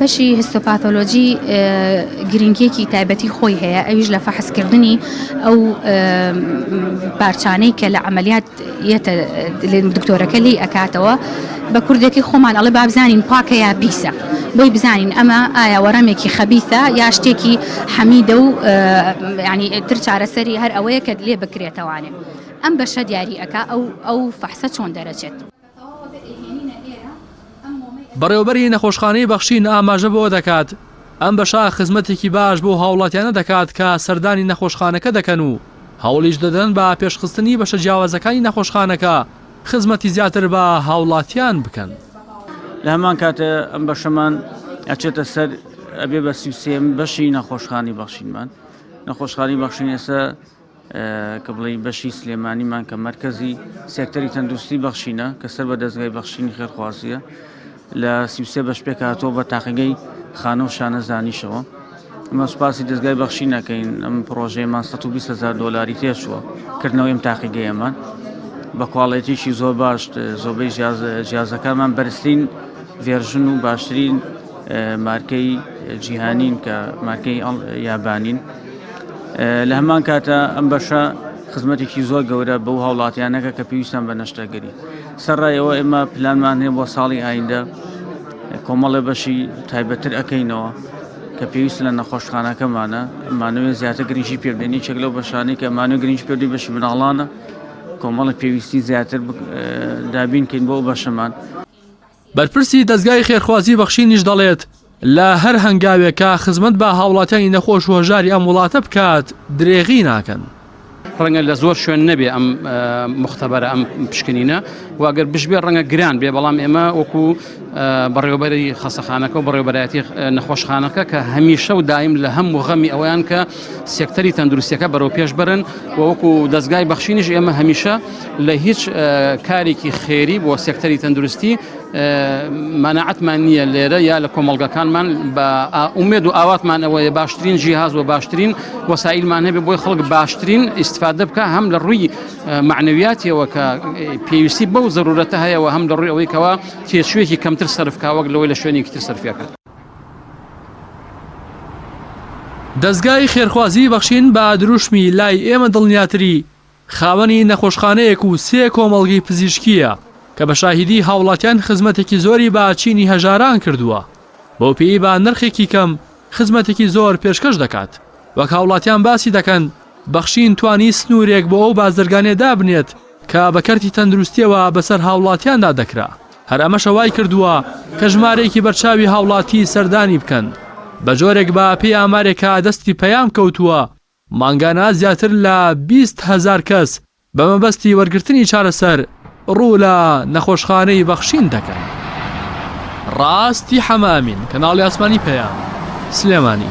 بەشی هیستۆپاتۆلۆجی گرنگیەکی تایبەتی خۆی هەیە ئەویش لە فەحسکردنی ئەو پارچانەی کە لە عملیات یەتە دکتۆرەکە لی ئەکاتەوە بە کوردێکی خۆمان ئەڵێ بابزانین پاکە یا پیسە بۆی بزانین ئەمە ئایا وەڕەمێکی خەبیثە یا شتێکی حەمیدە و ینی تر چارەسەری هەر ئەوەیە کە لێ بکرێتەوانێ ئەم بەشە دیاری ئەکا ئەو ئەو فەحسە چۆن دەرەچێت. بەڕێوەبەری نەخۆشخانەی بەخشین ئاماژە بەوە دەکات، ئەم بەشە خزمەتێکی باش بۆ هاوڵاتیانە دەکات کە سەردانی نەخۆشخانەکە دەکەن و هەوڵیش دەدەن بە پێشخستنی بەشە جیاوازەکانی نەخۆشخانەکە خزمەتی زیاتر بە هاوڵاتیان بکەن. لە هەمان کاتە ئەم بەشەمان ئەچێتە سەر ئەبێ بە سی و سێیەمین بەشی نەخۆشخانەی بەخشینمان نەخۆشخانەی بەخشین ئێستا کە بڵێی بەشی سلێمانیمان کە مەرکەزی سێکتەری تەندروستی بەخشینە کە سەر بە دەستگای بەخشینی خێرخوازیە لە سیوسێ بەش پێکاتەوە بە تاقیگەی خانە و شانەزانیشەوە ئەمە سوپاسی دەستگای بەخشی نەکەین ئەم پرۆژەیەمان 120 هزار دلاری تێشوە کردنەوەی ئەم تاقیگەیەمان بە کواڵێتیشی زۆر باش زۆربەی جیازەکانمان بەرزترین ڤێرژن و باشترین مارکەی جیهانین کە مارکەی یابانین لە هەمان کاتە ئەم بەشە خزمەتێکی زۆر گەورە بەو هاوڵاتیانەکە کە پێویستان بە نەشتەگەری سەرڕایەوە ئێمە پلانمان هەیە بۆ ساڵی ئایندە کۆمەڵێ بەشی تایبەتر ئەەکەینەوە کە پێویست لە نەخۆشخانەکەمانە مانوێ زیاتر گرنگی پێبدەنی چێک لەو بەشانەی کە مانو گرنگ پێدی بەشی مناڵانە کۆمەڵی پێویستی زیاتر دابینکەین بۆ بەشەمان بەرپرسی دەزگای خێرخوازی بەخشینیش دەڵێت، لە هەر هەنگاوێکا خزمەت بە هاوڵاتیانی نەخۆش و هەژاری ئەم وڵاتە بکات درێغی ناکەن. ڕەنگە لە زۆر شوێن نەبێ ئەم موختەبەرە ئەم پشکنینە و ئەگەر بشبێ ڕەنگە گران بێ بەڵام ئێمە وەکو بەڕێوەبەری خەسەخانەکە و بەڕێوەبەرایەتی نەخۆشخانەکە کە هەمیشە و دایم لە هەم و غەمی ئەوەیان کە سێکتەری تەندروستیەکە بەرەوپێش بەرن و وەکو دەستگای بەخشینیش ئێمە هەمیشە لە هیچ کارێکی خێری بۆ سێکتەری تەندروستی مەنەعەتمان نییە لێرە یا لە کۆمەلگەکانمان بە ئومێد و ئاواتمان ئەوەیە باشترین جیهاز و باشترین وەسائلمان هەبێ بۆی خەڵک باشترین ئیسفادە بکە هەم لە ڕووی معنەویاتیەوە کە پێویستی بەو زەرورەتە هەیەەوە هەم لە ڕووی ئەوەی کەەوە تێچوێکی کەمتر سەرفکاوەک لەوەی لە شوێنێکی تر سەرفەکە دەزگای خێرخوازی بەخشین بە دروشمی لای ئێمە دڵنیاتری خاوەنی نەخۆشخانەیەک و سێ کۆمەڵگەی پزیشکیە کە بە شاهیدی هاوڵاتیان خزمەتێکی زۆری بە چینی هەژاران کردووە بەو پێی با نرخێکی کەم خزمەتێکی زۆر پێشکەش دەکات وەک هاوڵاتیان باسی دەکەن بەخشین توانی سنوورێک بۆ ئەو بازرگانێ دابنێت کە بە کەرتی تەندروستییەوە بەسەر هاوڵاتیاندا دەکرا، هەر ئەمەشە وایکردووە کە ژمارەیەکی بەرچاوی هاوڵاتی سەردانی بکەن، بەجۆرێک بە پێی ئامارێکە دەستی پەیام کەوتووە مانگانە زیاتر لە بیست هەزار کەس بە مەبەستی وەرگرتنی چارەسەر ڕوو لە نەخۆشخانەی بەخشین دەکەن. ڕاستی حەمە ئەمین، کەناڵی ئاسمانی پەیام، سلێمانی.